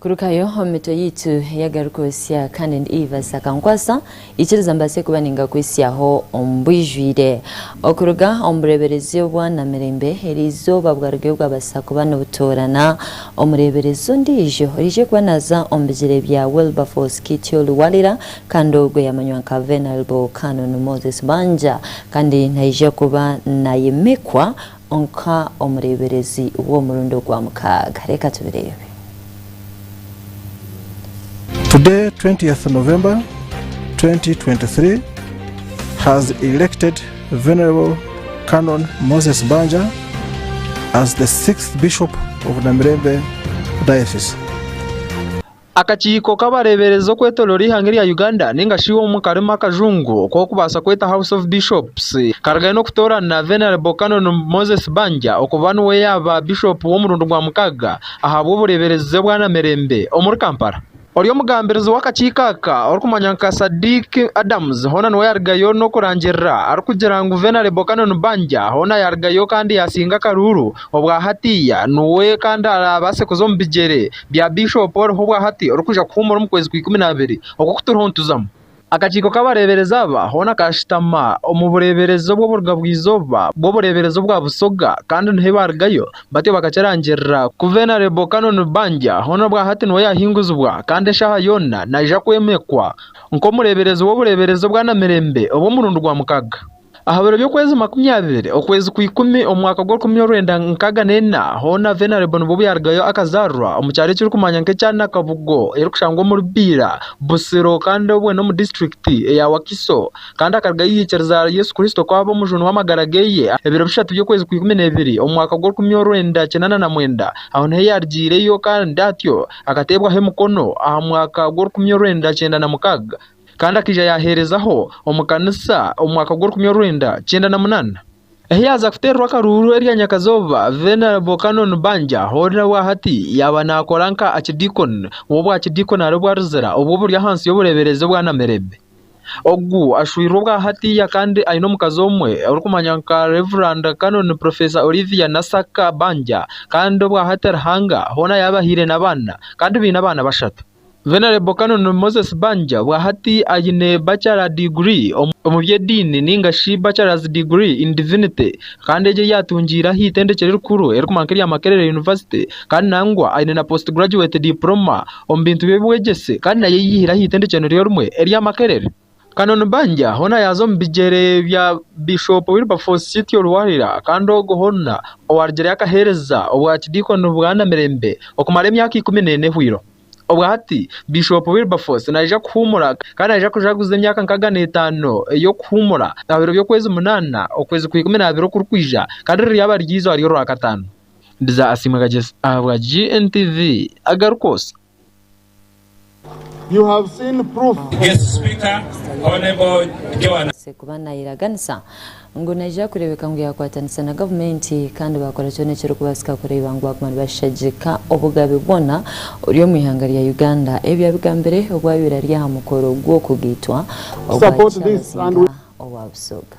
Kurukayo omu mitwe yaitu ey'agarukwesya kandi ndi Ivas akankwasa ikiriza mbaase kuba ningakwesyaho omu bwijwire. Okuruga omu bureeberezi obwa namirembe eri izooba bwarugayo bwabaasa kuba nibutoorana omureeberezi ondiijo oraije kuba naaza omu bigyere bya Wilberforce Kityo Luwalira kandi ogwo yamanywa nka Venalble Canon Moses Banja kandi naija kuba nayimikwa Nka omureeberezi w'omurundi ogwa mukaaga. Reka tubireebe. Today 20th November 2023 has elected Venerable Canon Moses Banja as the 6th Bishop of Namirembe Diocese. Akakiiko k'abareeberezi okwetooroora eihanga erya Uganda nainga shi omu karimu akajungu oku orikubaasa kweta House of Bishops karigayo n'okutoorana Venerable Canon Moses Banja okuba niwe yaaba Bishop w'omurundi gwa mukaaga ahabw'obureeberezi bwa namirembe omuri Kampala. Ori omugambirizi w'akakiiko aka orikumanywa nka Sadiq Adams hoona niwe yarigayo n'okurangirira arikugira ngu Venerable Canon Banja hoona yarigayo kandi yaasinga akaruuru obwa hatiiya niwe kandi araabaase kuza omu bigyere bya Bishop oriho obwahati orikuza kuhuumura omu kwezi kwa ikumi na biri oku kuturiho nituzamu. Akakiiko k'abareeberezi aba hoona kaashutama omu bureeberezi obw'oburuga bw'eizooba bw'obureeberezi obwa Busoga kandi niho baarugayo batyo bakakirangirira ku Venerable Canon Banja hoona obwahati niwe yaahinguzibwa kandi eshaaha yoona naija kwemekwa nk'omureeberezi w'obureeberezi obwa Namirembe obw'omurundi gwa mukaaga. Aha biro by'okwezi makumi abiri okwezi kwa ikumi omu mwaka gw'orukumi orwenda nkaaga neina, hoona Venerable Nibobu yaarugayo akazaarwa omu kyaro ekirikumanywa nk'ekya Nakabugo erikushangwa omuri Biira, Busiro kandi obwe n'omu disiturikiti eya Wakiso kandi akarugayo yaikiriza aha Yesu Kristo ku aba Omujuni w'amagara ge. Ebiro bishatu by'okwezi kwa ikumi n'ebiri omu mwaka gw'orukumi orwenda kinaana na mwenda aho niho yaarugiireyo kandi atyo akateebwaho emikono aha mwaka gw'orukumi orwenda kyenda na mukaaga. kandi akaija yaaheerezaho omu kanisa omu mwaka gw'orukumi orwenda kyenda na munaana. Ahi yaaza kuteererwa akaruuru erya nyakazooba, Venerable Canon Banja hoo nawe aha hati yaaba naakora nka Archdeacon w'obwa Kidiikoni ari obwa Luzira obwo oburi ahansi y'obureeberezi obwa Namirembe. Ogu ashwirwe obwa hatiiya kandi aine omukazi omwe orikumanywa nka Rev. Canon Professor Olivia Nassaka Banja kandi obwa hati Ruhanga hoona yaabahaire n'abaana kandi baine abaana bashatu. Venerable Canon Moses Banja obwa hati aine Bachelor Degree omu by'ediini nainga shi Bachelor's Degree in Divinity kandi egi ei atungiire aha itendekye rikuru erikukira nka erya Makerere University kandi nangwa aine na Post Graduate Diploma omu bintu by'obwegyese kandi nayo eyiihire aha itendekye niryo rimwe erya Makerere. Canon Banja hoona yaaza omu bigyere bya Bishop Wilberforce Kityo Luwalira kandi ogwo hoona owarugireyo akaheereza obwa kidiikoni bwanamirembe okumara emyaka ikumi n'ena ehweire. Obwa hati Bishop Wilberforce naija kuhuumura kandi naija kujaguza emyaka nkaaga n'etaano ey'okuhuumura aha biro by'okwezi munaana okwezi kwa ikumi n'abiri okurikwija kandi riraaba riri eizooba ry'orwakataano. Mbiza asiimwe Kagyesi ahabwa GNTV agaruka osa. You have seen proof. Guest Speaker, Honourable Joan Abaase kuba naayeraganisa ngu naija kureebeka ngu yaakwatanisa na gavumenti kandi baakora kyona ekirikubaasika kureeba ngu baaguma nibashagika obugabe bwona oburi omu ihanga rya Uganda. Ebi abigambire obu abaire ari aha mukoro gw'okugaitwa ogwa Kyaabazinga owa Busoga.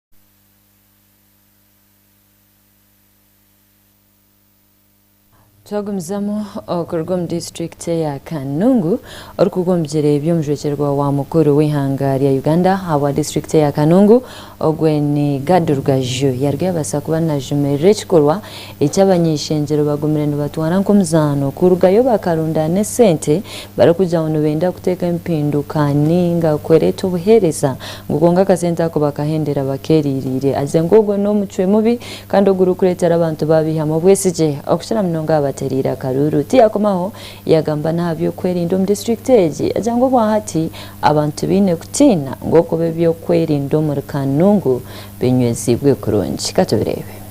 Twagumizamu okuruga omu disiturikiti eya Kanungu orikugwa omu bigyere by'omujwekyerwa wa mukuru w'eihanga rya Uganda ahabwa disiturikiti eya Kanungu ogwe ni Gad Rugaju yaaruga yabaasa kuba najumirira ekikorwa eki abany'eishengyero bagumire nibatwara nk'omuzaano kurugayo bakarundaana esente barikugira ngu nibenda kuteeka empinduka nainga kwereeta obuheereza ngu kwonka akasente ako bakahendera abakeereereire haza ngu ogwo n'omucwe mubi kandi ogurikureetera abantu baabaihamu obwesigye okukira munonga aha batereire akaruuru. Tiyakomaho yagamba n'aha by'okwerinda omu disiturikiti egi agira ngu obwahati abantu tibaine kutiina ngu okuba eby'okwerinda omuri Kanungu binyweziibwe kurungi. Ka tubireebe.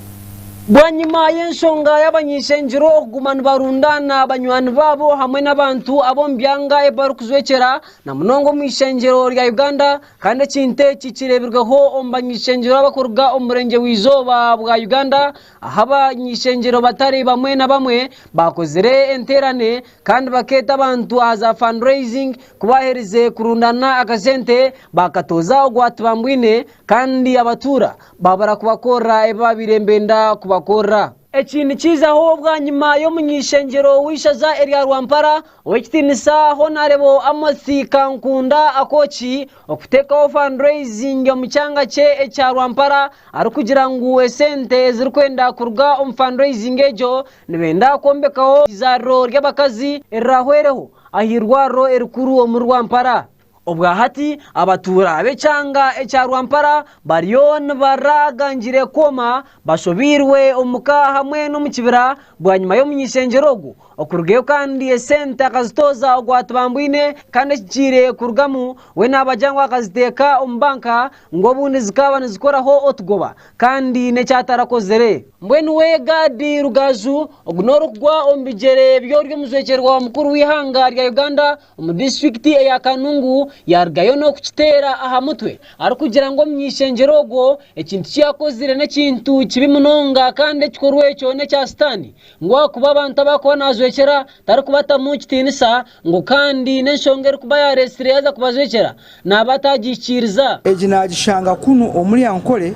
Bwanyima y'enshonga y'abanyeshengiro okuguma nibarundaana banywani baabo hamwe n'abantu ab'omu byanga ei barikujwekyera na munonga omu ishengyero rya Uganda kandi ekintu eki kireebirweho omu banyeshengero abarikuruga omu murengye bw'eizooba bwa Uganda ahu abanyeshengero batari bamwe na bamwe baakozire enteerane kandi bakeeta abantu aha za fund raising ku baaherize kurundaana akasente baakatooza ogwa Tibambwine kandi abatuura Baabura kubakorera ebi baabaire nibenda kubakorera. Eki nikiijaho bwanyima y'omuny'eishengyero w'eishaza erya Rwampara ow'ekitiinisa Honarebo Amos Kankunda Akoki okuteekaho fundraising omu kyanga kye ekya Rwampara arikugira ngu esente ezirikwenda kuruga omu fundraising egyo nibenda kwombekaho eizaariro ry'abakazi erirahwereho aha irwariro erikuru omuri Rwampara. Obwahati abatuura b'ekyanga ekya Rwampara bariyo nibarra gangire kwoma bashobeirwe omu ka hamwe n'omu kibira bwanyima y'omuny'ishengyero ogwo okurugayo kandi esente akazitooza ogwatubambwine kandi ekigiire kurugamu we naabagira ngu akaziteeka omu banka ngu obundi zikaaba nizikoraho otugoba kandi n'eki atarakozire. Mbwenu we Gad Rugaju ogu n'orikugwa omu bigyere by'ori omujwekyerwa mukuru w'eihanga rya Uganda Omu disiturikiti eya Kanungu yaarugayo n'okukiteera aha mutwe arikugira ngu omunyaishengyero ogwo ekintu ki yaakozire n'ekintu kibi munonga kandi ekikorwa ekyo n'ekya Sitaane ngu ahakuba abantu abu arikuba naajwekyera tarikubatamu kitiinisa ngu kandi n'enshonga erikuba yaareetsire yaaza kubajwekyera naaba ataagihikiiriza. Egi naagishanga kunu omuri Ankole,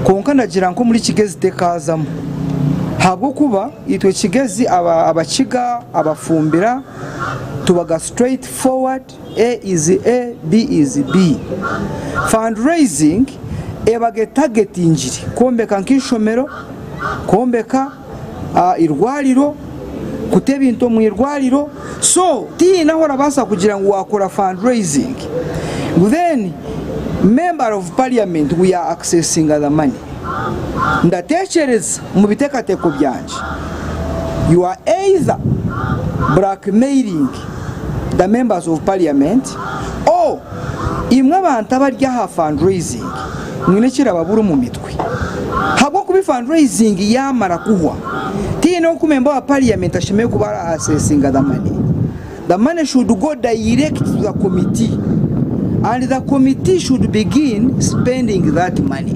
kwonka ndagira ngu omuri Kigezi tekaazamu ahabw'okuba itwe Kigezi Abakiga, Abafumbira, tubaga straight forward, A is A, B is B. Fundraising ebaga etagetingire kwombeka nk'eishomero, kwombeka. irwariro, kuta ebintu omu irwariro so tihaine ahu orabaasa kugira ngu wakora fund raising ngu then member of parliament ngu ya accesinga the money. Ndatekyereza omu bitekateko byangye you are either blackmailing the members of parliament or. Imwe abantu abari aha fundraising mwine ekirababura omu mitwe habwokuba fundraising yamara kuhwa tihaine oku member wa parliament ashemereire kuba ari accessinga the money. The money should go direct to the committee and the committee should begin spending that money.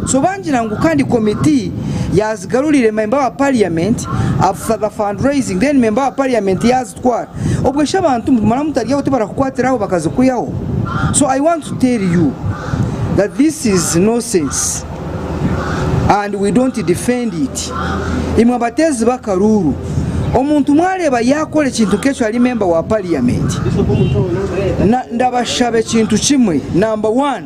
So bangira ngu kandi committee yazigarurire member wa parliament after the fundraising then member wa parliament kutwara obwe shi abantu mara mutaryaho tibarakukwatiraho bakazikwihaho so i want to tell you that this is nosense and we don't defend it imwe abateezi bakaruuru omuntu mwareeba yakora ekintu nkekyo ari member wa parliament na ndabashaba ekintu kimwe number one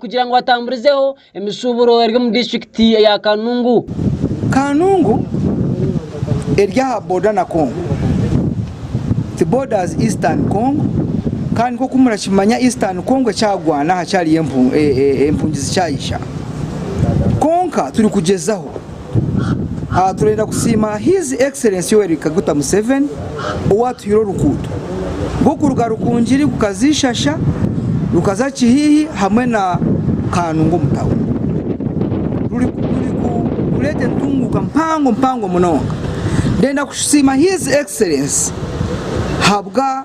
kugira ngu batamburizeho emishuuburo eri omu disiturikiti ya Kanungu. Kanungu eri aha boda na Congo. It borders Eastern Congo kandi nk'oku murakimanya Eastern Congo ekyagwana aha kyariyo empungi zikyayisha. Kwonka turikugyezaho. Turenda kusiima His Excellence Yoweri Kaguta Museveni owatuhaire oruguuto rw'okuruga Rukungiri kukaza Ishasha, rukaza Kihihi hamwe na Kanungu omu tauni. Rurikureeta entunguuka mpango mpango munonga. Ndenda kusiima His Excellence habwa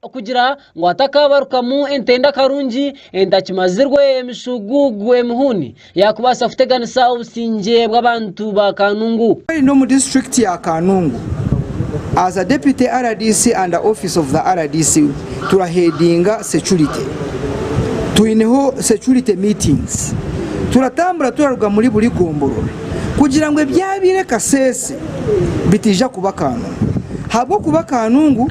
kugira ngu atakaabarukamu entenda karungi entakimazirwe emishuuguugu emihuni yaakubaasa kuteganisa obusingye bw'abantu ba Kanungu. Weine omu disiturikiti ya Kanungu as a deputy rdc under office of the rdc turaheadinga security twineho security meetings turatambura turaruga muri buri gomborora kugira ngu ebyabaire Kasese bitaija kuba Kanungu habwokuba Kanungu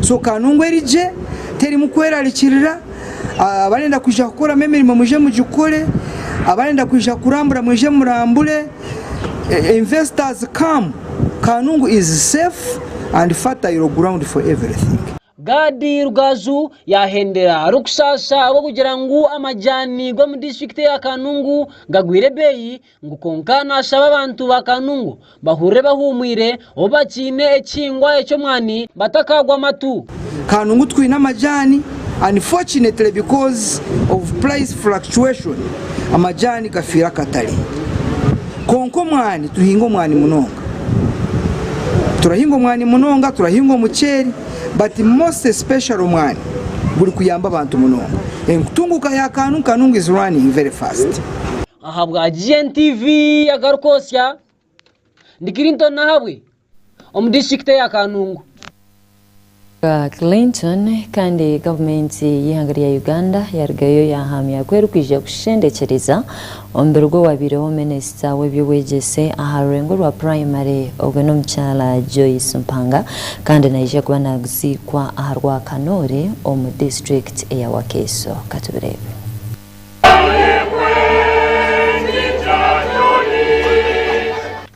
So ka nungu eri gye terimu kwerarikirira, abarenda kwija kukoramu emirimo mwije mugikore, abarenda kwija kurambura mwije murambure, investors come, ka nungu is safe and fertile ground for everything. Gadi Rugaju yaahendera arikushasha ahabw'okugira ngu amajaani g'omu disiturikiti eya Kanungu gagwire ebeeyi Ngu kwonka naashaba abantu ba Kanungu bahurire bahuumwire obu bakiine ekihingwa eky'omwani batakaagwa amatu. Kanungu twine amajaani unfortunately because of price fluctuation amajaani gafiire akatare kwonka omwani tuhinga omwani munonga turahinga omwani munonga turahinga omuceeri but most especially omwani guri kuyamba abantu munonga enkutunguuka ya Kanungu Kanungu is running very fast. Ahabwa GNTV Agarukosya, Ndi Clinton Nahabwe omu disiturikiti eya Kanungu. Bya Clinton Kandi gavumenti y'eihanga rya Uganda yarugayo yahamya ku erikwija kushendekyereza omubiri gw'owabaireho minisita w'eby'obwegyese aha rurengo rwa purayimare ogwe n'omukyala Joyce Mpanga kandi naija kuba naguziikwa aha Rwakanoore omu disiturikiti eya Wakiso. Katubireebe.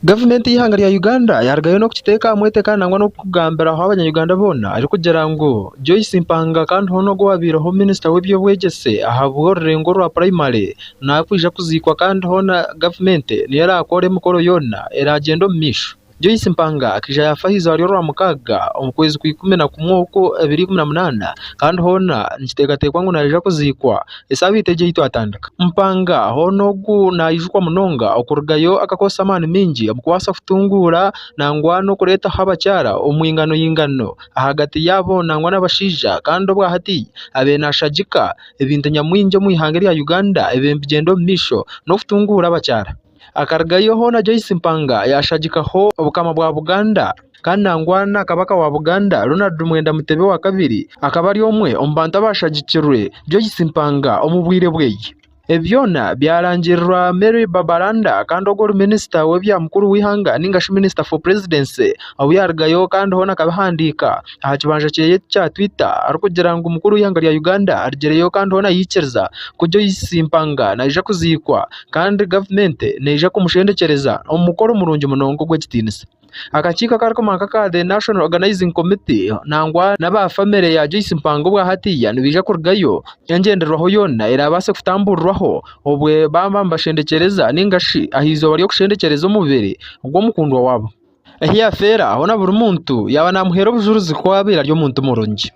Gavumenti y'eihanga rya Uganda yarugayo n'okukiteeka aha mweteka nangwa n'okukugambiraho abanya-Uganda boona erikugira ngu Joyce Mpanga kandi hoona ogu owaabaireho minisita w'eby'obwegyese ahabw'orurengo rwa puraimari naakwija kuziikwa kandi hoona gavumenti niyo eraakoora emikoro yoona eraagyenda omu maisho. Joyce Mpanga akaija yaafa aha izarwa rya mukaaga omu kwezi kwa ikumi na kumwe okwo ebiri ikumi na munaana kandi hoona nikiteekateekwa ngu naija kuziikwa esaabiiti egyo ei twatandika. Mpanga hoona ogu naijukwa munonga okurugayo akakoresa amaani maingi omu kubaasa kutunguura nangwa n'okureetaho abakyara omu inganoingano ahagati yaabo nangwa n'abashaija kandi obwa hati abaire nashagika ebintu nyamwingi omu ihanga erya Uganda ebigyenda omu maisho n'okutunguura abakyara. Akarugayo hoona Joyce Mpanga yaashagikaho Obukama bwa Buganda kandi nangwa na Kabaka wa Buganda Ronald Mwenda Mutebi owa kabiri akaba ari omwe omu bantu abaashagikirwe Joyce Mpanga omu bwire bwe. Ebi byona byarangirirwa Mary Babalanda kandi ogwo ori Minisita w'ebya mukuru w'eihanga ninga shi Minister for Presidency ou yaarugayo kandi hoona akabihandiika aha kibanja kye ekya Twitter arikugira ngu mukuru w'eihanga rya Uganda arigireyo kandi hoona yaikiriza ku Joyce Mpanga naija kuziikwa kandi gavumenti neija kumushendekyereza omu mukoro murungi munonga ogw'ekitiinisa. Akakiiko akarikukoma nka aka The National Organizing Committee nangwa n'aba famire ya Joyce Mpanga obwa hatiiya nibaija kurugayo engyendererwaho yoona eraabaase kutambuurirwaho obwe baaba nibashendekyereza nainga shi aha izooba ry'okushendekyereza omubiri gw'omukundwa waabo ahi yaafeera hoona buri muntu yaaba naamuheera obujuurizi ku abaire ari omuntu murungi.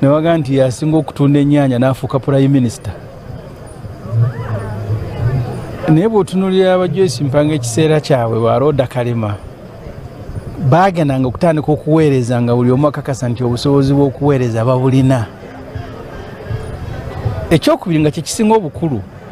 Naiwe agamba nti yasinga okutunda enyanya nafuuka prime minister naye bwotunulira aba Joyce mpanga ekiseera kyawe ba roda kalema bagendanga okutandika okuweereza nga buri omu akakasa nti obusobozi bwokuweereza babulina ekyokubiri nga kyekisinga obukuru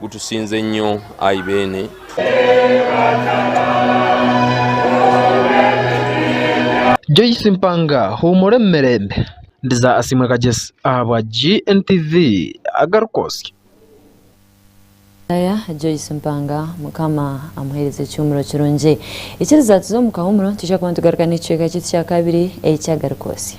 Gutusinze nyo ayi beene. Joyce Mpanga huumura omu mirembe. Ndiza Asiimwe Kagyesi ahabwa GNTV agaruka osya. Mukaya Joyce Mpanga mukama amuhereze ekihumuro kirungi. Ikiriza tuze omu kahumuro nitwija kuba nitugaruka n'ekicweka kyaitu kya kabiri ekya garuka osya.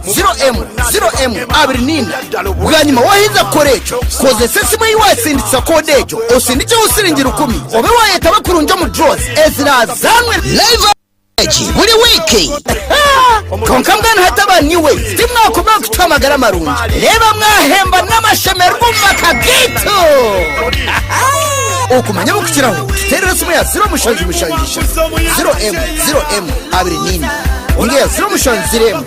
0M0M24 Bwanyima waaheriza kukora ekyo, kozesa esimu ei waasindikisa koode egyo osindikyeho siringi rukumi obe waayetaba kurungi omu draws eziraazaanwe live egi buri wiiki. Kwonka mbwenu hati aba New Wave timwakomire kutuha amagara marungi reeba mwaahemba n'amashemererwa omu maka gaitu! Okumanya obukukiraho tuteerere esimu eya 0776 0M0M24 ninga eya 0770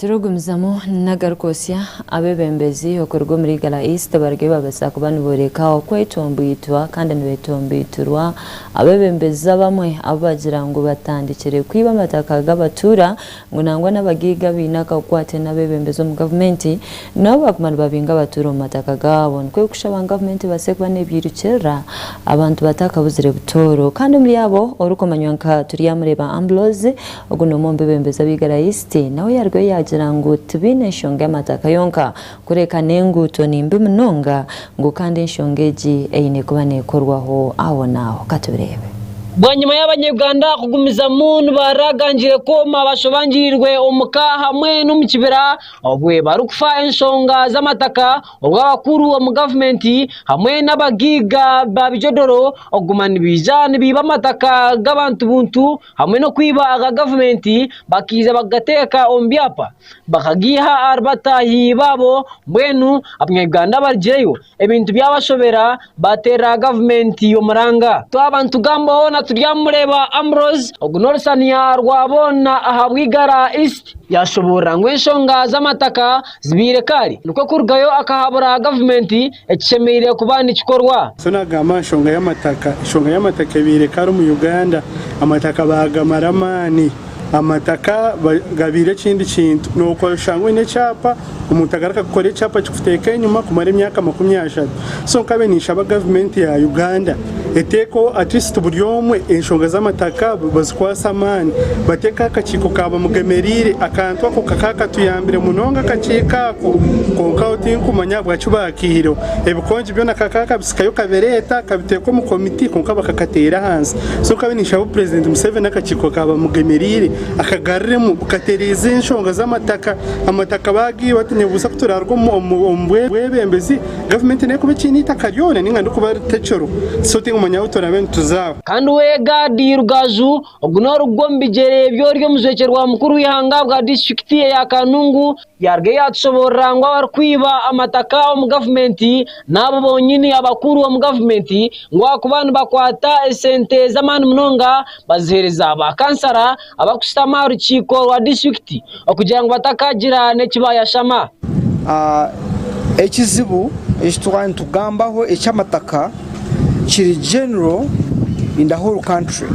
Turikugumizamu nagari kwotsya abebembezi okuruga omuri Igara East barugire babasa kuba niboreka okwetomboitwa kandi nibetomboiturwa abebembezi abamwe abu bagira ngu batandikire kwiba amataka gabatuura ngu nangwa nabagaiga abaine akakwate nabebembezi omu gavumenti nabo baguma nibabinga abatuura omu mataka gaabo nikwo kushaba ngu gavumenti ebase kuba nebyairukirira abantu batakabuzire butooro kandi omuri abo orikumanywa nka Turyamureeba Amblozi Ogu n'omwe omu bebembezi ab'eigara Isite nawe yarugayo yaagira ngu tibaine nshonga y'amataaka yonka kureka n'enguuto ni mbi munonga ngu kandi enshonga egi eine kuba neekorwaho ahonaaho. Ka tubireebe. Bwanyima y'Abanyayuganda kugumizamu nibaragangire kwoma bashobangirirwe omu ka hamwe n'omu kibira obu barikufa enshonga z'amataka obu abakuru omu gavumenti hamwe n'abagaiga ba bijodoro okuguma nibaija nibaiba amataka g'abantu buntu hamwe n'okwiba aga gavumenti bakaija bakagateeka omu byapa bakagaiha ahari bataahi baabo mbwenu abanyarwanda barigireyo ebintu byabashobera baaterera gavumenti omuranga. Twaba nitugambaho na Turyamureeba Ambrose ogu n'orusaniya rwa boona aha Bwigara East, yaashoboorora ngu enshonga z'amataka zibaire kaari nikwo kurugayo akahabura gavumenti, ekishemereire kuba nikikorwa. So nagamba ahashonga yamataka, eshonga yamataka ebaire kare omu Uganda, amataka bagamara amaani, amataka gabaire ekindi kintu, noshanga oyine ekyapa omuntu agaruka kukora ekyapa kikuteeka enyuma kumara emyaka makumi ashatu, so nkabiire ninshaba government ya Uganda Eteeka Abakristo buri omwe enshonga z'amataka bazikwase amaani. Bateeke aha kakiiko ka bamugemereire. Akantu ako ka kakatuyambire munonga akakiiko ako, kwonka aho tinkumanya ahabwaki baakiihireho. Ebikongi byona ka kakabitsikayo kabireeta kabiteeka omu komiti kwonka bakakateera ahansi. So nkabiire ninshaba obu Purezidenti Museveni akakiiko ka bamugemereire akagaruriremu bukatereeza enshonga z'amataka. Amataka baagiihaho tinyebuuza ku turaaruga omu bwebembezi. Gavumenti nehe kuba ekiine eitaka ryona ninga ndi kuba ritekyoro sorting omwanya ahu turabe nituzaaho. Kandi we Gadi Rugaju, ogu n'orugwa omu bigyere by'ori omujwekye rwa mukuru w'eihanga bwa disiturikiti eya Kanungu, yaaruga yaatushoboorora ngu abarikwiba amataka omu gavumenti n'abo bonyini abakuru omu gavumenti ngu ahakuba nibakwata esente z'amaani munonga baziheereza ba kansara, abakushutama aha rukiiko rwa disiturikiti okugira ngu batakaagira n'eki baayashama. Ekizibu eki twaba nitugambaho eky'amataka kiri general in the whole country.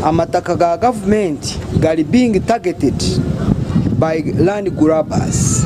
Amataka ga gavumenti gari being targeted by land grabbers.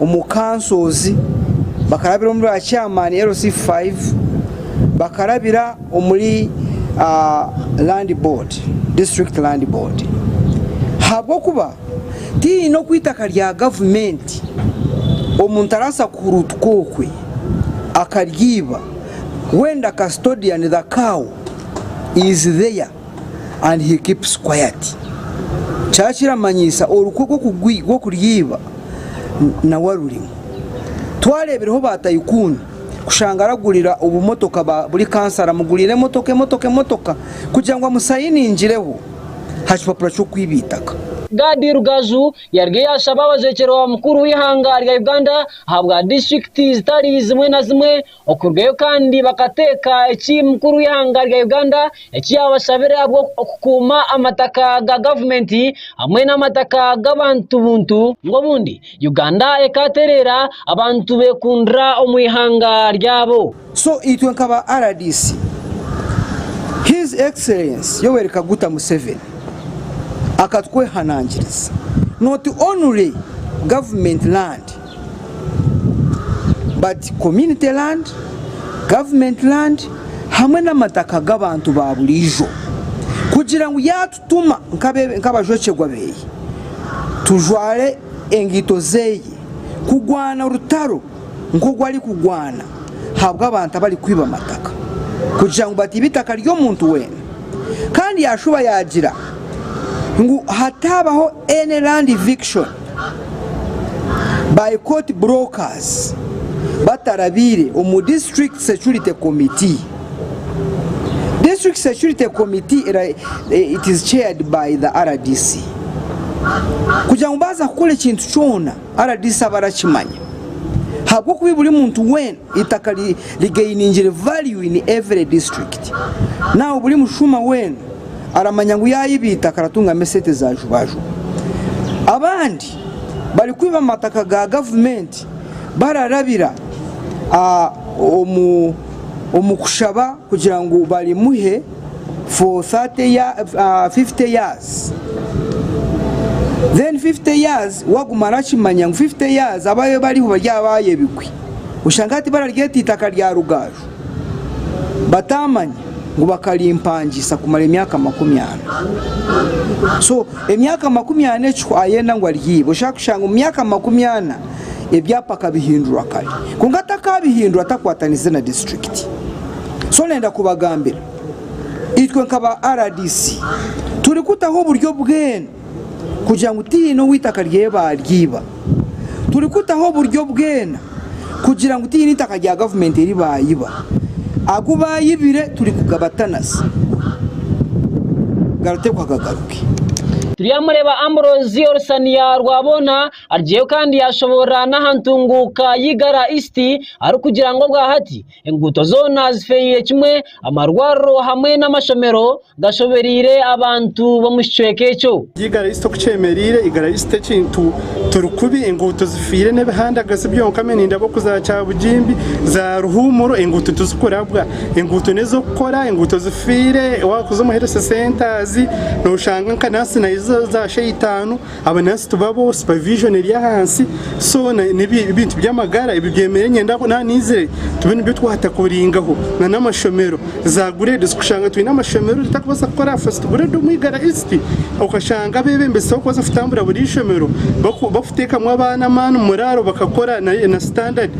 Omu Kansozi, bakarabira omuri ba Chairman, LC 5, bakarabira omuri Land Board, District Land Board. Habw'okuba tihaine oku itaka rya Gavumenti omuntu araasa kuhuruutuka okwe akaryiba, when the custodian, the cow, is there. and he keeps quiet kyaaba kiramanyisa orukwe rw'okuryeiba nawe arurimu. Twareebireho ba tycoon kushanga aragurira obumotoka ba buri kansara amuguriire emotoka emotoka emotoka kugira ngu amusayiningireho ha kipapura ky'okwiba eitaka. Gad Rugaju yariyo yaashaba abajwekyerwa ba mukuru w'eihanga rya Uganda ahabwa disiturikiti zitari zimwe na zimwe Okurugayo kandi bakateeka eki mukuru w'eihanga rya Uganda eki yaabashabire ahabw'okukuuma amataka ga gavumenti hamwe n'amataka g'abantu buntu, ngu obundi Uganda ekaatereera abantu beekundira omu ihanga ryabo. So itwe nkaba rdc His Excellency Yoweri Kaguta Museveni akatwehanangiriza noti only government land But community land, government land hamwe n'amataka g'abantu ba buriijo kugira ngu yaatutuma nk'abajwekyerwa beeye tujware engaito zeeye kugwana orutaro nk'ogu arikugwana ahabw'abantu abarikwiba amataka kugira ngu batiibe eitaka ry'omuntu weena kandi yaashuba yaagira ngu hataabaho any land eviction. by court brokers batarabiire omu district security committee district security committee it is chaired by the rdc kugira ngu baaza kukora ekintu kyona rdc aba arakimanya ahabw'okuba buri muntu weena Itaka rigainingire value in every district. Now buri mushuma weena aramanya ngu yaiba itaka aratungamu esente za jubajuba. Abandi bari kwiba amataka ga government bararabira omu kushaba kugira ngu barimuhe for 50 years. Then 50 years waguma arakimanya ngu 50 years abariho bari abayebigwe. Oshanga hati bararyeta eitaka rya Rugaju bataamanya ngu bakarimpangisa kumara emyaka makumi ana. So emyaka makumi ana ekyo ayenda ngu aryibe oshanga kushanga omu myaka makumi ana ebyapa akabihindura kare kwonka takabihindura atakwatanize na district. So nenda kubagambira itwe nka ba rdc turi kutaho oburyo bwena kugira ngu tihaine ou eitaka rye baaryiba. Turikutaho oburyo bwena kugira ngu tihaine eitaka rya gavumenti eri baayiba. Agu baayibire turikugabatanisa garitekwa gagaruke. Turyamureeba Ambrose Olusaniya Rwabwoona arugyeyo kandi yaashoboorora n'aha ntunguuka y'Igara East arikugira ngu obwahati Enguuto zoona zifeereire kimwe, amarwariro hamwe n'amashomero gashobereire abantu b'omu kicweka ekyo. Igara East Oku kyemereire, Igara East ekintu turi kubi, enguuto zifiire n'ebihandagazi byonka me nindaba oku za Kyabugimbi, za Ruhuumuro enguuto tizikurabwa. Enguuto n'ez'okukora, enguuto zifiire, waakuza omu Health Centres nooshanga nka naasi nazo za sha itaano. Aba nurse tibabo, supervision eri ahansi so nebintu byamagara ebi byemeriire niinyenda ngu naba naizire tube nibyo twatakoringaho na namashomero za grades kushanga twine amashomero tutakubaasa kukora aha first grade omu Igara East okashanga abebembezi tibakubaasa kutambura buri ishomero bakutekamu abaana amaani omu muraaro bakakora na standard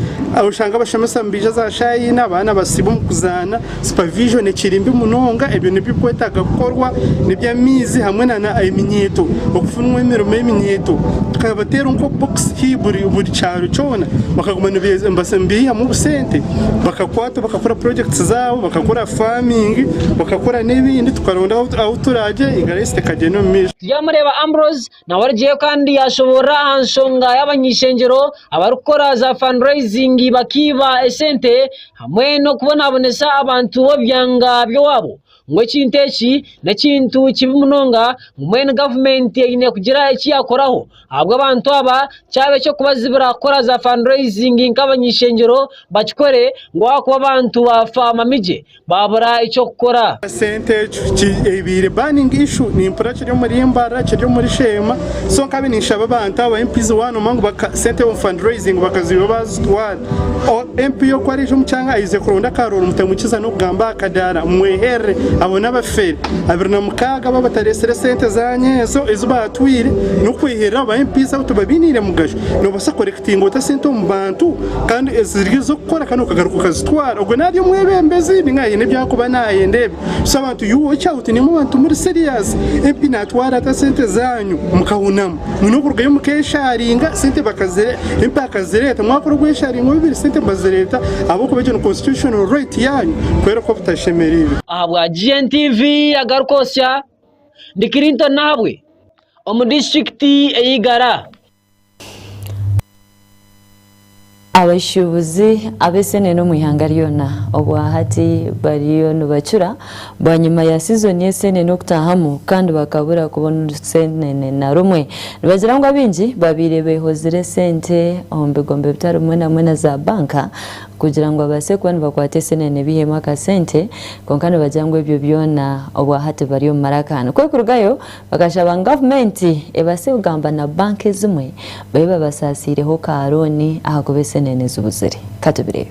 oshanga abashomesa nibaija za shaaha ina abaana basiiba omu kuzaana. Supervision ekiri mbi munonga ebyo nebikwetaga kukorwa nebyamaizi hamwe na na eminyeeto okufunwa emirimo y'eminyeeto tukabateera nko box hii buri buri kyaro kyona bakaguma nibasembiihamu obusente bakakwata bakakora projects zaabo bakakora farming bakakora n'ebindi tukaronda ahu ahu turagye egaresi tekagyenda omu maisho. Tibyamureeba Ambrose Nawe arugyeyo kandi yaashoboorora aha nshonga y'abany'ishengyero abarikukora za fundraising bakaiba esente hamwe n'okubonabonesa abantu b'obyanga by'owaabo ngu ekintu eki n'ekintu kibi munonga ngu mbwenu gavumenti eine kugira eki yaakoraho ahabw'abantu aba kyaba eky'okubazibira kukora za fundraising nk'abany'ishengyero bakikore ngu ahakuba abantu baafa mamigye. baabura eky'okukora. Sente ekyo ki ebiire burning issue nimpura kiri omuri Mbarara kiri omuri Sheema so nkabi ninshaba abantu aba MPs one omwe ngu baka sente omu fund raising bakaziiba bazitwara o MP yo ku ariija omu kyanga ayize kuronda ka roll mutamukiza n'okugamba aha kadaara mumweherere abo n'abafere abiri na mukaaga abu abataresire sente zanyu ezo ezi baatwire n'okwehirira abo ba MPs abo tibabiniire mugasho. Nobaasa kukorekitinga ota sente omu bantu kandi eziri ez'okukora kandi okagaruka okazitwara? Ogwe nari omwebembezi ninga aine ebi arikuba nayenda ebi. So abantu you watch out nimwe bantu muri serious. MP natwara ata sente zanyu mukahunamu? Mwine okurugayo mukesharinga sente bakazire MP akazireeta mwakora obwesharingo bubiri sente bazireeta ahabw'okuba egyo ni constitutional right yanyu kwereka obutashemerirwe. Ahabwa GNTV agaruka osya. Ndi Clinton Nahabwe omu disiturikiti ey'e Igara. Abashuubuzi ab'eseenene omu ihanga ryona obwahati bariyo nibacura bwanyima ya sizoni y'eseenene okutaahamu kandi bakabura kubona orusenene na rumwe. Nibagira ngu abaingi babaire beehozire sente omu bigombe bitari bimwe na bimwe na zaabanka. kugira ngu babaase kuba nibakwata eseenene baiheemu akasente kwonka nibagira ngu ebyo byona obwa hati bari omu maraka nikwo kurugayo bakashaba ngu gavumenti ebaase kugamba na banka ezimwe babe babasaasiireho ka rooni ahakuba eseenene zibuzire. Ka tubireebe.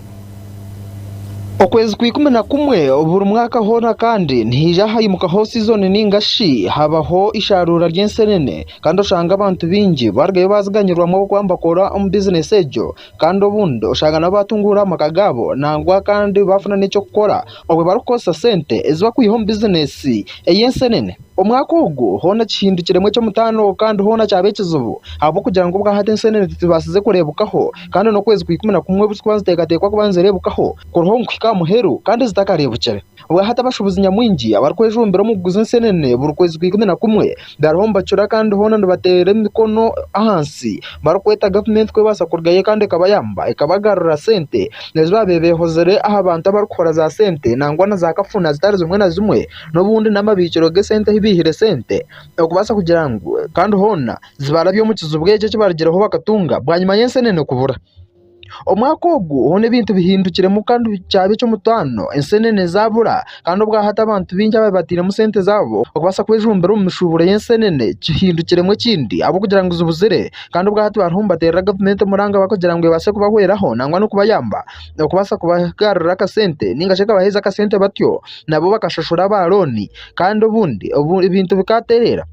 Okwezi kwa ikumi na kumwe buri mwaka hoona kandi nihaija haimukaho sizoni nainga shi habaho eishaaruura ry'enseenene kandi oshange abantu baingi barugayo baaziganyirwamu ahabw'okuba nibakora omu bizineesi egyo Kandi obundi oshanga nabo baatunguura amaka gaabo nangwa kandi baafuna n'eky'okukora obu barikukoresa sente ezi bakwiha omu bizineesi ey'enseenene. Omwaka ogu hoona kihindukiremu eky'omutaano kandi hoona kyaba ekizibu ahabw'okugira ngu obwahati enseenene tizibaasize kureebwaho kandi n'okwezi kwa ikumi na kumwe obu zirikuba niziteekateekwa kuba nizireebwaho kuriho ngu kuhika aha muheru kandi zitakareebukire. Bwahati abashubuzi nyamwingi abarikwejumbira omu kuguza ensenene buri kwezi kwa ikumi na kumwe bariho nibacura kandi hoona nibateera emikono ahansi barikweta gavumenti ku ebaasa kurugayo kandi ekabayamba ekabagarurira sente ezi baabaire behozire aha bantu abarikuhora za sente nangwa na za kafuna zitari zimwe na zimwe n'obundi n'amabiikiro g'esente ahu beihire sente okubaasa kugira ngu kandi hoona zibarabye omu kizibu eki eki baarugireho bakatunga bwanyima y'ensenene kubura. Omwaka ogwo hoona ebintu bihindukiremu kandi kyaba eky'omutaano enseenene zaabura kandi obwa hati abantu baingi abaabaire batairemu sente zaabo okubaasa kwejumbira omu mishuuburo y'enseenene kihindukiremu ekindi ahabw'okugira ngu zibuzire kandi obwa hati bariho nibateerera gavumenti omuranga kugira ngu ebaase kubahweraho nangwa n'okubayamba okubaasa kubagarurira akasente nainga shi ekabaheereza akasente batyo nabo bakashashura aba looni kandi obundi ebintu bikatereera.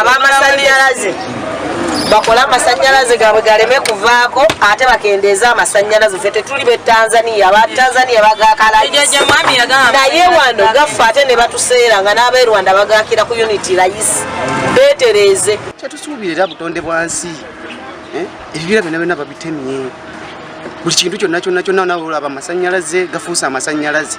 Ab'amasanyarazi bakora amasanyarazi gabwe gareme kuvako ate bakendeza amasanyarazi fe teturi be Tanzania aba Tanzania bagakaragisa naye wano gafa ate nebatusera nga n'abe Rwanda bagakira ku unit rais betereze. Kyetusubire era butonde bwa nsi ebibira byona byona babitemye buri kintu kyona kyona kyona nawe oraba amasanyarazi gafusa amasanyarazi.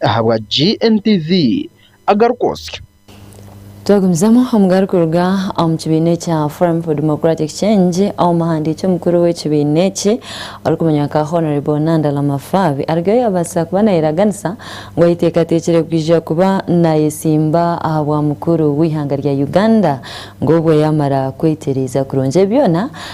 ahabwa GNTV agaruka osyo. Twagumizamu omugaru kuruga omu kibiina ekya Forum for Democratic Change, omuhandiiki omukuru w'ekibiina eki orikumanywa nka Hon Nandala Mafaabi arugeyo yabaasisa kuba nayeraganisa ngu ayeteekateekire kwija kuba nayetsimba ahabwa mukuru w'eihanga rya Uganda ngu obweyamara kwetereeza kurungi ebi byona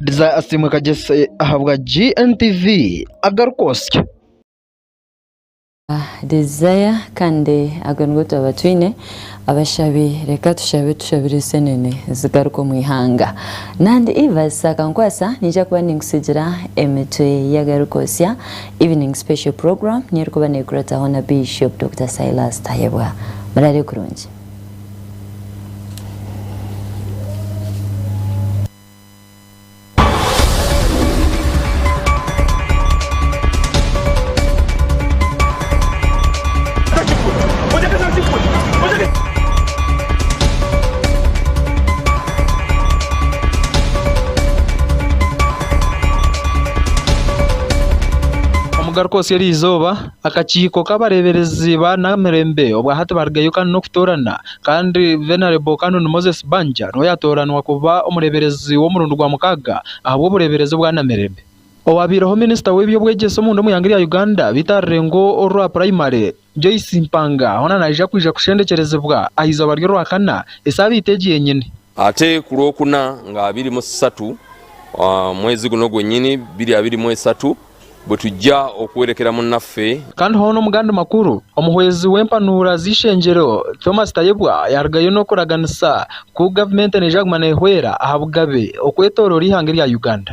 Desire Asiimwe Kagyese ahabwa GNTV agaruka osya. Desire kandi ago nigo turaba twine abashabi reka tushabe tushabire esenene zigaruke omu ihanga nandi Ivas akankwasa ninja kuba ninkusigira emitwe ya garuka osya evening special program niyo erikuba nekurataho na Bishop Doctor Silas Tayebwa murare kurungi. Omugaruka otsya eriizooba, akakiiko k'abareeberezi ba naamirembe obwa hati barigayo kandi n'okutoorana kandi Venerable Canon Moses Banja niwe yatooranwa kuba omureeberezi w'omurundi gwa mukaaga ahabw'obureeberezi obwa Namirembe. Owaabaireho minisita w'eby'obwegyese omunda omu ihanga rya Uganda beitu aha rurengo orwa purayimare, Joyce Mpanga hoona naija kwija kushendekyerezibwa aha izooba ry'Orwakana esaabiiti egi yenyini. Ate ku Rwokuna nga abiri mu sisatu mwezi guna ogwo nyini, biri abiri mu esatu, bwetugya okuhwerekera munaffe. Kandi hoona omu gandi makuru, omuhwezi w'empanuura z'eishengyero Thomas Tayebwa yarugayo n'okuraganisa ku gavumenti neija kuguma nehweera aha bugabe okwetoroora eihanga erya Uganda.